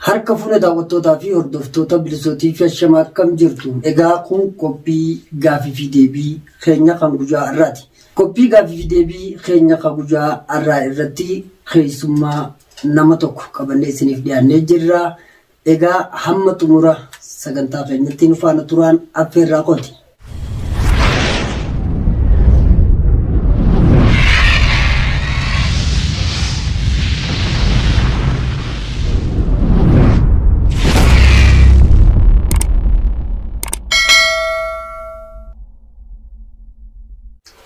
Harka fuune daawwattootaa fi hordoftoota Bilisoo TV ashama akkam jirtu? Egaa kun qophii gaafii fi deebii keenya kan guyyaa har'aati. Qophii gaafii fi deebii keenya kan guyyaa har'aa irratti keessummaa nama tokko qabannee isiniif dhiyaannee jirra. Egaa hamma xumura sagantaa keenyatti nu faana turaan affeerraa kooti.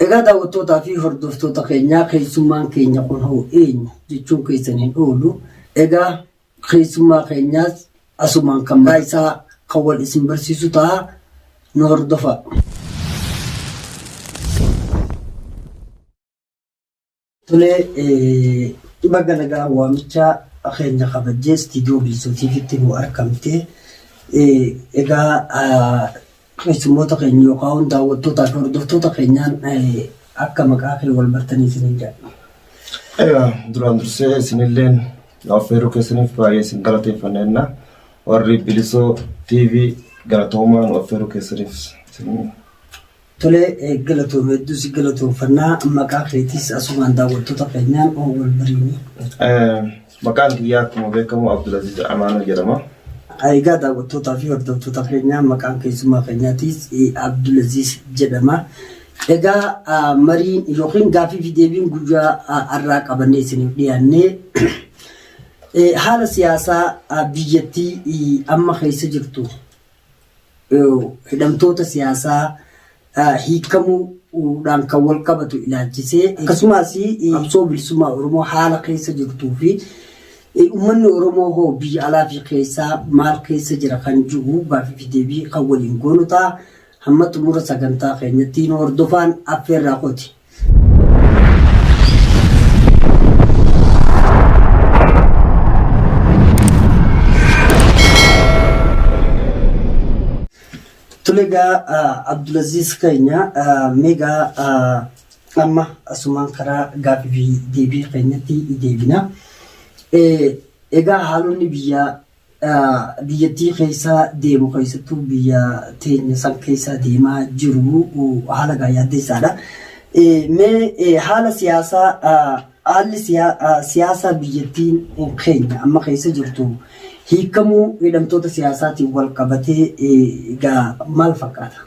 Egaa daawwattootaa fi hordoftoota keenyaa keessummaan keenya kun hoo eenyu jechuun keessan hin oolu. Egaa Keessummaa keenyaas asumaan kan mataa isaa kan wal isin barsiisu ta'a. Nu hordofaa. Tolee, baga nagaan waamicha keenya kabajjee istiidiyoo Bilisootiifitti nu argamte. Egaa Keessummoota keenya yookaan daawwattootaa fi hordoftoota keenyaan akka maqaa kee wal bartanii isiniin jedha. Egaa duraan dursee isinilleen affeeruu keessaniif baay'ee isin galateeffanna jenna. Warri Bilisoo TV galatoomaa nu affeeruu keessaniif isin Tolee eh, galatoom hedduu si galatoomfannaa maqaa keetiis asumaan daawwattoota keenyaan wal bariini. Eh, Maqaan kiyyaa akkuma beekamu Abdulaziz Amaanoo jedhama. Egaa daawwattootaa fi hordoftoota keenyaa maqaan keessummaa keenyaatiis Abdulaziz jedhama. Egaa mariin yookiin gaaffii fi deebiin guyyaa har'aa qabannee isiniif dhiyaannee haala siyaasaa biyyattii amma keessa jirtu hidhamtoota siyaasaa hiikkamuu dhaan kan wal qabatu ilaalchisee akkasumaas qabsoo bilisummaa Oromoo haala keessa jirtuu fi ummanni Oromoo hoo biyya alaa fi keessaa maal keessa jira kan jiru gaafii fi deebii kan waliin goonu ta'a. Hamma xumura sagantaa keenyatti nu hordofaan affeerraa kooti. Tulegaa Abdulaziz keenya meegaa amma asumaan karaa gaaffii fi deebii keenyatti deebina. Egaa haalonni biyyaa biyyattii keessa deemu keessattuu biyya teenya san keessa deemaa jiru haala gaa yaaddeessaadha. Mee haala siyaasaa haalli siyaasaa biyyattiin keenya amma keessa jirtu hiikamuu hidhamtoota siyaasaatiin wal qabatee gaa maal fakkaata?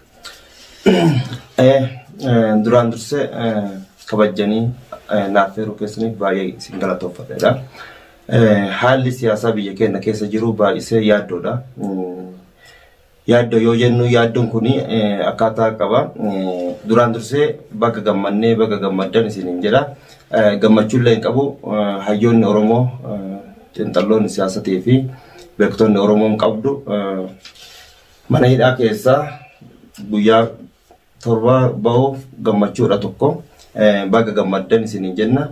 Duraan dursee kabajjanii naaf heeruu keessaniif baay'ee isin galatoomfadha. Haalli siyaasaa biyya keenya keessa jiru baay'isee yaaddoodha. Yaaddoo yoo jennu yaaddoon kun akkaataa qaba. Duraan dursee baga gammannee baga gammaddan isiniin jedha. Gammachuullee hin qabu hayyoonni Oromoo xiinxalloonni siyaasatii fi beektonni Oromoon qabdu mana hidhaa keessaa guyyaa 7 bahuuf gammachuudha 1 baga gammaddan isiniin jenna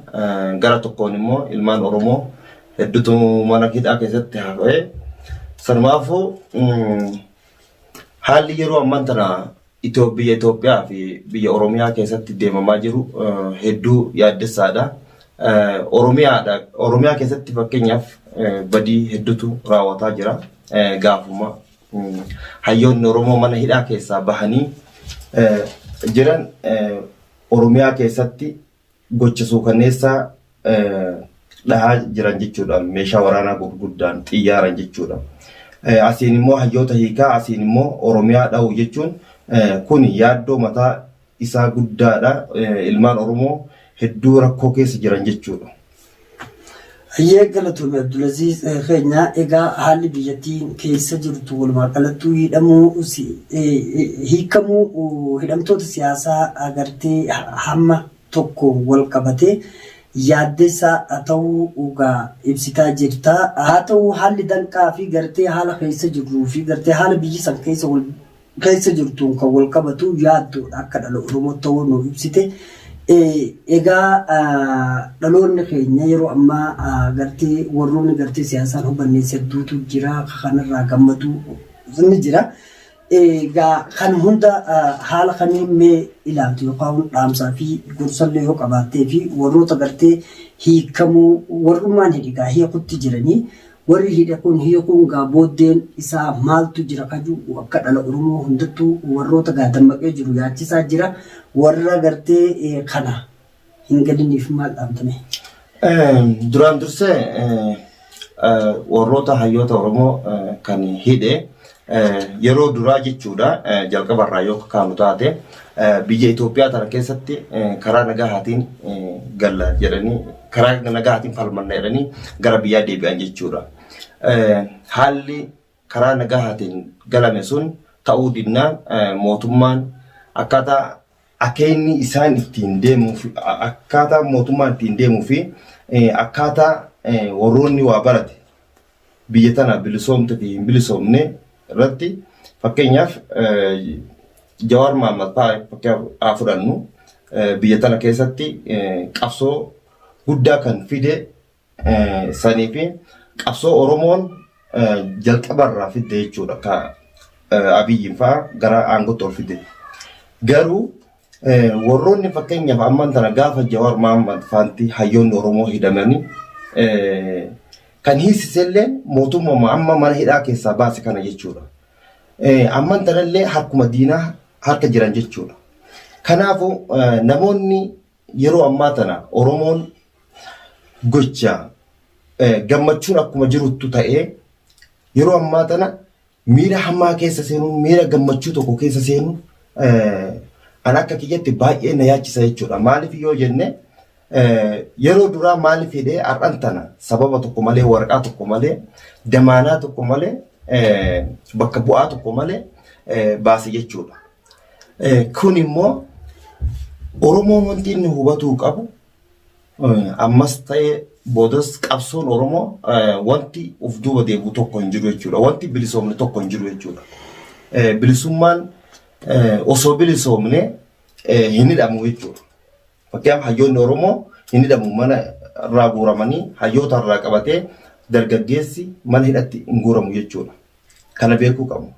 gara tokkoon immoo ilmaan oromoo heddutu mana hidhaa keessatti hafee sanumaafuu haalli yeroo amman tana biyya Itoophiyaa fi biyya Oromiyaa keessatti deemamaa jiru hedduu yaaddessaadha. Oromiyaadha Oromiyaa keessatti fakkeenyaaf badii heddutu raawwataa jira gaafuma Hayyoonni Oromoo mana hidhaa keessaa bahanii jiran Oromiyaa keessatti gocha suukanneessaa dhahaa jiran jechuudha. Meeshaa waraanaa gurguddaan xiyyaaran jechuudha. Asiin immoo hayyoota hiikaa asiin immoo Oromiyaa dhahu jechuun kun yaaddoo mataa isaa guddaadha. Ilmaan Oromoo hedduu rakkoo keessa jiran jechuudha. Hayyee galatoomi Abdulaziz keenya egaa haalli biyyattiin keessa jirtu walumaa galattuu hidhamuu hiikamuu hidhamtoota siyaasaa agartee hamma tokko wal qabatee yaaddessaa ta'uu dhugaa ibsitaa jirta. Haa ta'uu haalli danqaa fi gartee haala keessa jirruu fi gartee haala biyyi san keessa wal keessa jirtuun kan wal qabatu yaaddoodha akka dhala Oromootti ta'uu nuuf ibsite. Egaa dhaloonni keenya yeroo ammaa gartee warroonni gartee siyaasaan hubannees hedduutu jira kanarraa gammadu ni jira. Egaa kan hunda haala kamiin mee ilaaltu yookaan dhaamsaa fi gorsallee yoo qabaattee fi warroota gartee hiikamuu warrummaan hidhigaa hiikutti jiranii Warri hidhe kun hiikuun gaa booddeen isaa maaltu jira ka ju'u akka dhala Oromoo hundattuu warroota gaa dammaqee jiru yaachisaa jira. Warra gartee kana hin galiniif maal dhaamta mee? Duraan dursee warroota hayyoota Oromoo kan hidhe Yeroo duraa jechuudha jalqaba irraa yoo kaanu taate biyya Itoophiyaa tana keessatti karaa nagahaatiin galla jedhanii karaa nagahaatiin falmanna jedhanii gara biyyaa deebi'an jechuudha. Haalli karaa nagahaatiin galame sun ta'uu dinnaan mootummaan akkaataa akeenni isaan ittiin deemuu fi akkaataa mootummaan ittiin deemuu fi akkaataa warroonni waa barate biyya tana bilisoomte fi hin bilisoomne irratti fakkeenyaaf Jawaar Mahammad fa'aa fakkeenyaaf fudhannu biyya tana keessatti qabsoo guddaa kan fide sanii fi qabsoo Oromoon jalqabarraa fidde jechuudha ka Abiyyiin fa'aa gara aangootti ol fide. Garuu Warroonni fakkeenyaaf amman tana gaafa Jawaar Mahammad faanti hayyoonni Oromoo hidhamanii kan hiisisellee mootummaa amma mana hidhaa keessaa baase kana jechuudha. Amman tanallee harkuma diinaa harka jiran jechuudha. Kanaafuu namoonni yeroo ammaa tana Oromoon gocha gammachuun akkuma jiruttu ta'ee yeroo ammaa tana Miira hamaa keessa seenuun miira gammachuu tokko keessa seenuun an akka kiyyatti baay'ee na yaachisa jechuudha. Maaliif yoo jenne yeroo duraa maaliif hidhee har'an tana sababa tokko malee waraqaa tokko malee damaanaa tokko malee bakka bu'aa tokko malee baase jechuudha. Kun immoo Oromoon wanti inni hubatuu qabu ammas ta'ee boodas qabsoon Oromoo wanti of duuba deebi'u tokko hin jiru jechuudha. Wanti bilisoomne tokko hin jiru jechuudha. Bilisummaan osoo bilisoomne hin hidhamu jechuudha. Fakkeenyaaf hayyoonni Oromoo hin hidhamu mana irraa guuramanii hayyoota irraa qabatee dargaggeessi mana hidhatti hin guuramu jechuudha. Kana beekuu qabna.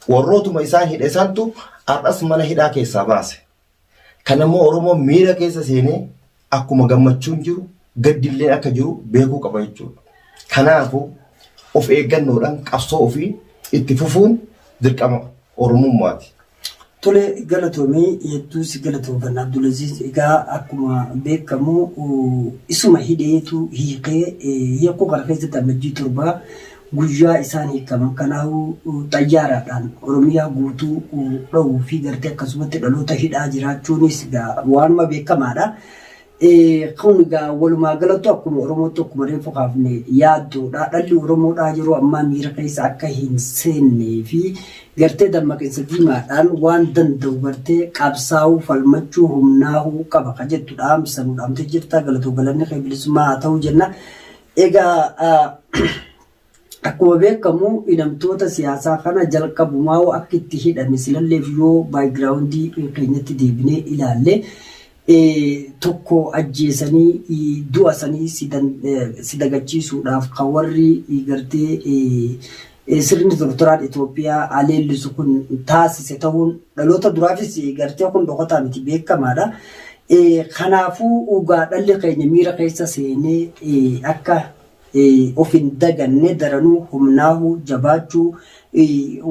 Warrootuma isaan hidhe santu har'as mana hidhaa keessaa baase. Kan ammoo Oromoon miira keessa seenee akkuma gammachuun jiru gaddilleen akka jiru beekuu qaba jechuudha. Kanaafu of eeggannoodhaan qabsoo ofii itti fufuun dirqama Oromummaati. Tole galatomii hedduu si galatoomfanna Abdulaziz egaa akkuma beekamu isuma hidheetu hiikee hiikuu kana keessatti Ammajjii 7 Guyyaa isaan hiikaman kanaahu xayyaaraadhaan Oromiyaa guutuu dhowuu fi gartee akkasumatti dhaloota hidhaa jiraachuunis egaa waanuma beekamaadha. Kun egaa walumaa galattu akkuma Oromootti akkuma reeffu kaafne yaaddoodha. Dhalli Oromoodhaa yeroo ammaa miira keessa akka hin seennee fi gartee dammaqinsa diimaadhaan waan danda'u gartee qabsaa'uu, falmachuu, humnaahuu qaba ka jettu dhaamsa nu dhaamtee jirta. Galatoo galanni kee bilisummaa haa ta'u jenna. Egaa akkuma beekkamu hidhamtoota siyaasaa kana jalqabumaa'uu akka itti hidhame silalleef yoo background keenyatti deebinee ilaalle tokko ajjeesanii du'a sanii si dagachiisuudhaaf kan warri gartee Sirni tortoraan Itoophiyaa haa leellisu kun taasise ta'uun dhaloota duraafis gartee kun dhokataa miti beekamaadha. Kanaafuu ugaa dhalli keenya miira keessa seenee akka of hin daganne daranuu humnaahu, jabaachuu,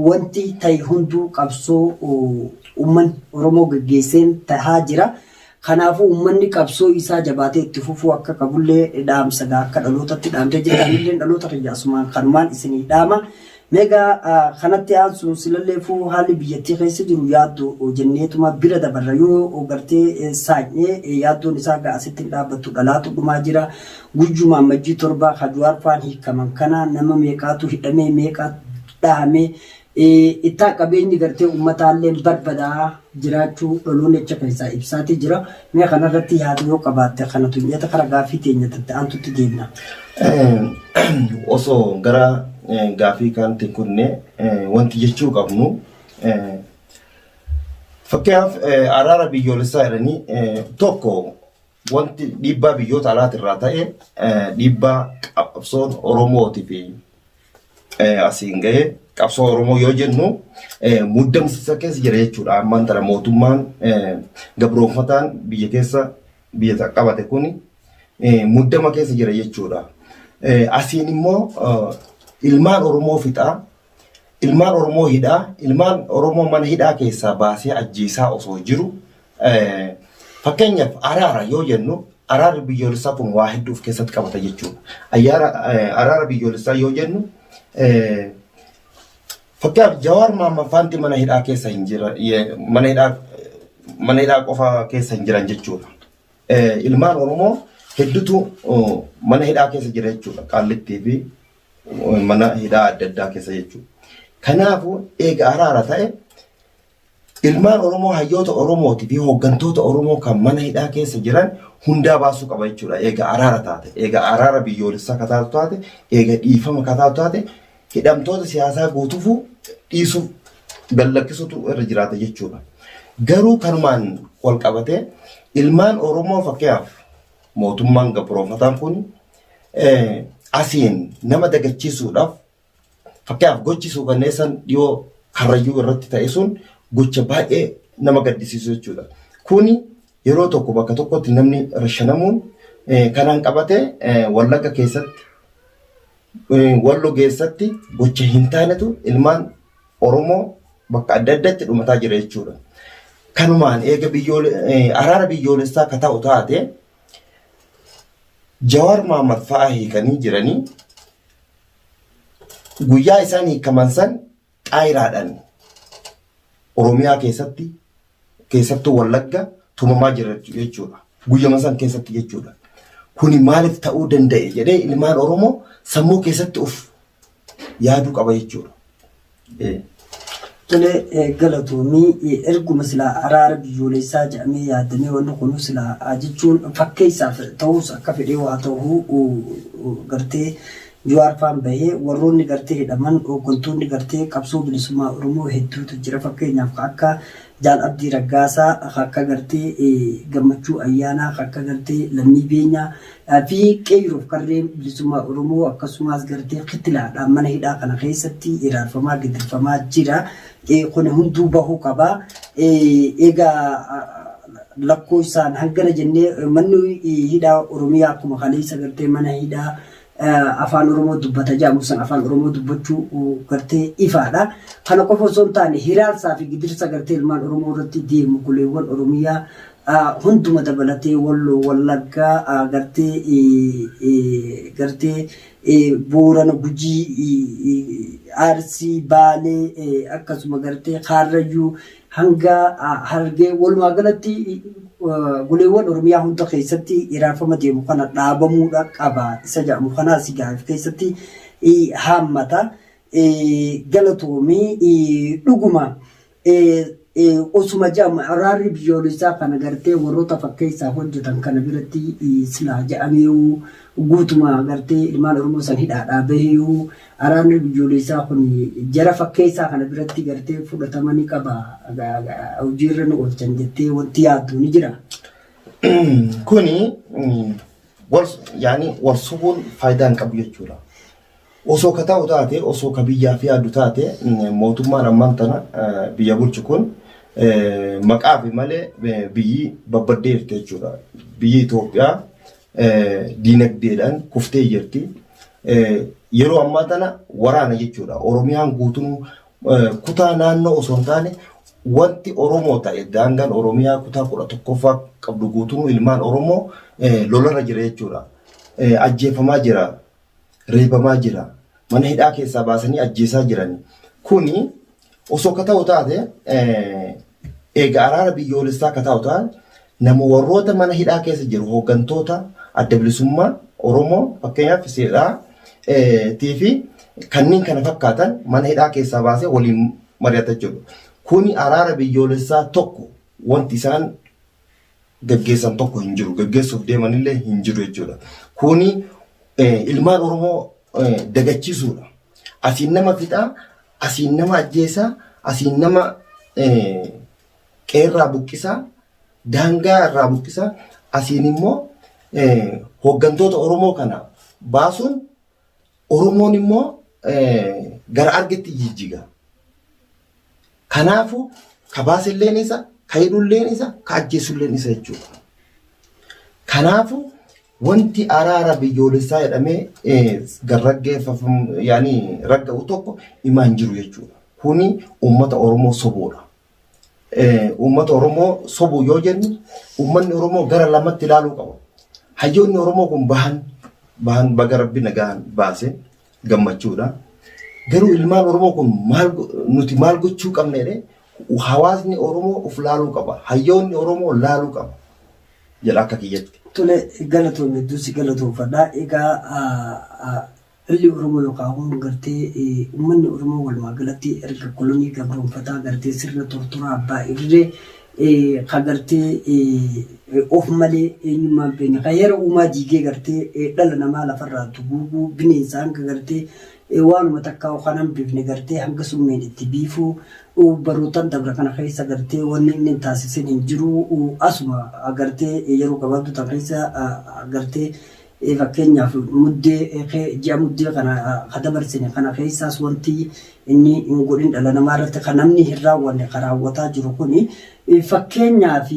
wanti ta'e hunduu qabsoo uummanni Oromoo geggeesseen tahaa jira. Kanaafuu uummanni qabsoo isaa jabaatee itti fufuu akka qabullee dhaamsa gaa akka dhalootatti dhaamtee jirta anilleen dhaloota kiyya asumaan kanumaan isinii dhaama. Meegaa kanatti aansuun silalleefuu haalli biyyattii keessa jiru yaaddoo jenneetuma bira dabarra yoo gartee saanyee yaaddoon isaa gaa asitti hin dhaabbattu dhalaatu dhumaa jira. Guyyuma ammajjii torbaa ka Juwaar faan hiikaman kana nama meeqaatu hidhamee meeqa dhahamee Ittaa qabeenyi gartee ummataalleen barbadaa jiraachuu Dholoonecha keessaa ibsaatii jira. Mee kanarratti yaada yoo qabaatte kana tunyata kara gaafii teenya tatte aantutti deemna. Osoo gara gaafii kaanti hin kunne wanti jechuu qabnu fakkeenyaaf araara biyyoolessaa jedhanii tokko Wanti dhiibbaa biyyoota alaati irraa ta'e dhiibbaa qabsoon Oromootii fi asiin ga'e qabsoo Oromoo yoo jennu muddamsiisa keessa jira jechuudha. Ammaan tana mootummaan gabroonfataan biyya keessa biyya qabate kun muddama keessa jira jechuudha. Asiin immoo ilmaan Oromoo fixaa ilmaan Oromoo hidhaa ilmaan Oromoo mana hidhaa keessaa baasee ajjeesaa osoo jiru Eh, Fakkeenyaaf araara yoo jennu araarri biyyoolessaa kun waa hedduu of keessatti qabata jechuudha. Ayyaara eh, araara biyyoolessaa yoo jennu eh, fakkeenyaaf Jawaar Maamman faanti mana hidhaa keessa hin jira ye- mana hidhaa mana hidhaa qofa keessa hin jiran jechuudha. Eh, Ilmaan Oromoo hedduutu oh, mana hidhaa keessa jira jechuudha. Qaallittii fi oh, mana hidhaa adda addaa keessa jechuudha. Kanaafuu eega araara ta'e Ilmaan Oromoo hayyoota Oromootii fi hooggantoota Oromoo kan mana hidhaa keessa jiran hundaa baasuu qaba jechuudha. Eega araara taate, eega araara biyyoolessaa ka taatu taate, eega dhiifama ka taatu taate hidhamtoota siyaasaa guutuufuu dhiisuu gallakkisuutu irra jiraata jechuudha. Garuu kanumaan wal qabatee ilmaan Oromoo fakkeenyaaf mootummaan gabroonfataan kun asiin nama dagachiisuudhaaf Fakkeenyaaf gochi suukanneessan dhiyoo Karrayyuu irratti ta'e sun gocha baay'ee nama gaddisiisu jechuudha. Kuni yeroo tokko bakka tokkotti namni rashanamuun kanaan qabate Wallagga keessatti Wallo keessatti gocha hin taanetu ilmaan Oromoo bakka adda addaatti dhumataa jira jechuudha. Kanumaan eega araara biyyoolessaa akka ta'u taate Jawaar Mahammad fa'aa hiikanii jiranii guyyaa isaan hiikaman san xaayiraadhaan Oromiyaa keessatti keessattuu Wallagga tumamaa jira jechuudha. Guyyama san keessatti jechuudha. Kuni maaliif ta'uu danda'e jedhee ilmaan Oromoo sammuu keessatti of yaaduu qaba jechuudha. Tole galatoomii erguma silaa araara biyyooleessaa jedhamee yaadamee wanni kun silaa jechuun fakkeessaaf ta'us akka fedhee waa ta'uu gartee Jawaarfaan bahee warroonni gartee hidhaman hooggantoonni gartee qabsoo bilisummaa Oromoo hedduutu jira fakkeenyaaf ka akka Jaal Abdii Raggaasaa ka akka gartee Gammachuu Ayyaanaa ka akka gartee Lammii Beenyaa Dhaabbii Qeeyroof Qarreen Bilisummaa Oromoo akkasumaas garteen Kitilaa dhaan mana hidhaa kana keessatti iraarfamaa gidirfamaa jira. Kuni hunduu bahuu qaba. Egaa lakkooysaan hangana jennee manni hidhaa Oromiyaa akkuma kaleeysa gartee mana hidhaa Afaan Oromoo dubbata jedhamu san Afaan Oromoo dubbachuu gartee ifaa dha. Kana qofa osoo hin taane hiraarsaa fi gidirsa gartee ilmaan Oromoo irratti deemu goleewwan Oromiyaa hunduma dabalatee Walloo, Wallaggaa, gartee Boorana, Gujii, Arsii, Baalee akkasuma gartee Kaarrayyuu hanga Harargee walumaa galatti goleewwan Oromiyaa hunda keessatti iraarfama deemu kana dhaabamuudha qaba isa jedhamu kanaa si gaaf keessatti haammata galatoomii dhuguma Osuma jedhamu araarri biyyoolessaa kana gartee warroota fakkeessaa hojjetan kana biratti silaa jedhameeyuu guutuma gartee ilmaan Oromoo san hidhaadhaa baheeyuu araarri biyyoolessaa kun jara fakkeessaa kana biratti gartee fudhatama ni qaba hojiirra ni oolchan jettee wanti yaaddu ni jira. Kuni wal yaani wal subuun faayidaa hin qabu jechuudha. Osoo ka ta'u taate, osoo ka biyyaaf yaadu taate, mootummaan ammaan tana biyya bulchu kun maqaafi malee biyyi babbaddee jirti jechuudha. Biyyi Itoophiyaa diinagdeedhaan kuftee jirti. Yeroo ammaa tana waraana jechuudha. Oromiyaan guutuun kutaa naannoo osoo hin taane wanti Oromoo ta'e daangaan Oromiyaa kutaa kudha tokkoffaa qabdu guutuun ilmaan Oromoo lolarra jira jechuudha. Ajjeefamaa jira, reebamaa jira. Mana hidhaa keessaa baasanii ajjeesaa jiran. Kuni osoo ka ta'u taate eega araara biyyoolessaa ka ta'u taate nama warroota mana hidhaa keessa jiru hooggantoota adda bilisummaa Oromoo fakkeenyaaf seeraa tiifi kanneen kana fakkaatan mana hidhaa keessaa baasee waliin mari'ata jechuudha. Kuni araara biyyoolessaa tokko wanti isaan gaggeessan tokko hin jiru. Gaggeessuuf deemanillee hin jiru jechuudha. Kuni ilmaan Oromoo dagachiisuudha. Asiin nama fixaa, asiin nama ajjeesaa, asiin nama qeerraa buqqisaa, daangaa irraa buqqisaa, asiin immoo hooggantoota Oromoo kana baasuun Oromoon immoo gara argetti jijjiga. Kanaafuu ka baasilleen isa, ka hidhulleen isa, ka ajjeesulleen isa jechuudha. Kanaafuu wanti araara biyyoolessaa jedhamee garraggeeffamu yaani ragga'u tokko imaan jiru jechuudha. Kuni uummata Oromoo sobuudha. uummata Oromoo sobu yoo jennu uummanni Oromoo gara lamatti ilaaluu qaba. Hayyoonni Oromoo kun bahan bahan baga rabbi nagaan baase gammachuudha. Garuu ilmaan Oromoo kun maal nuti maal gochuu qabna jedhee hawaasni Oromoo of laaluu qaba. Hayyoonni Oromoo laaluu qaba jedha akka kiyyatti. Tole galatoomi hedduu si galatoomfadha. Egaa Lolli Oromoo yookaan ammoo gartee ummanni Oromoo walumaagalatti erga kolonii gabroomfataa gartee sirna tortoraa abbaa irree ka gartee of malee eenyummaa hin beekne ka heera uumaa diigee gartee dhala namaa lafarraa duguuguu bineensa hanga gartee waanuma takkaa'u kan hambifne gartee hanga summiin itti biifuu barootan dabra kana keessa gartee wanni inni hin taasisin hin jiru asuma gartee yeroo gabaabduu tan keessa gartee Fakkeenyaaf muddee ji'a muddee kana ka dabarsine kana keessaas wanti inni hin godhin dhala namaa irratti ka namni hin raawwanne ka raawwataa jiru kuni fakkeenyaaf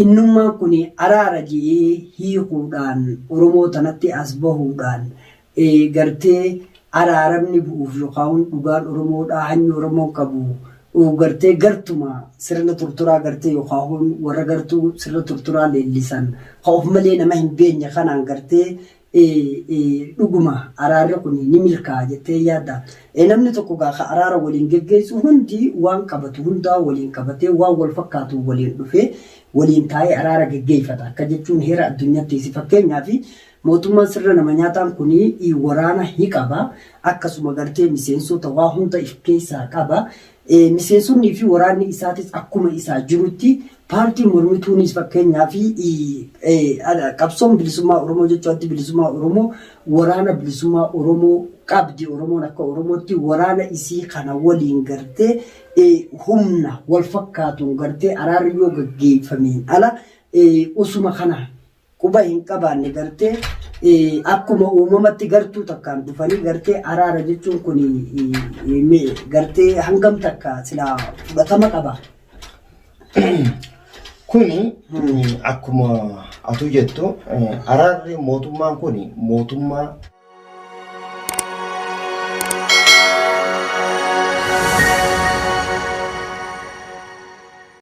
innummaan kun araara jedhee hiikuudhaan Oromoo tanatti as bahuudhaan gartee araaramni bu'uuf yokaun dhugaan Oromoo dhaa hanyi Oromoon qabu uu gartee gartuma sirna turturaa gartee yokaun warra gartuu sirna turturaa leellisan ka of malee nama hin beenye kanaan gartee dhuguma araarri kuni ni milkaa'a jettee yaadda? Namni tokko gaa ka araara waliin geggeessu hundi waan qabatu hundaa waliin qabatee waan wal fakkaatuun waliin dhufee waliin taa'ee araara geggeeffata akka jechuun heera addunyattiisi fakkeenyaaf Mootummaan sirna nama nyaataan kun waraana hiqaba, akkasuma gartee miseensota waa hunda if keessaa qaba. Miseensonnii fi waraanni isaatis akkuma isaa jirutti paartiin mormituunis fakkeenyaaf qabsoon bilisummaa Oromoo jechuu addi bilisummaa Oromoo waraana bilisummaa Oromoo qabdi. Oromoon akka Oromootti waraana isii kana waliin gartee humna wal fakkaatuun gartee araarri yoo gaggeeffameen ala osuma kana quba hin qabaanne gartee akkuma uumamatti gartuu takkaan dhufanii gartee araara jechuun kun gartee hangam takka silaa fudhatama qaba. Kuni akkuma atuu jettu araarri mootummaan kun mootummaa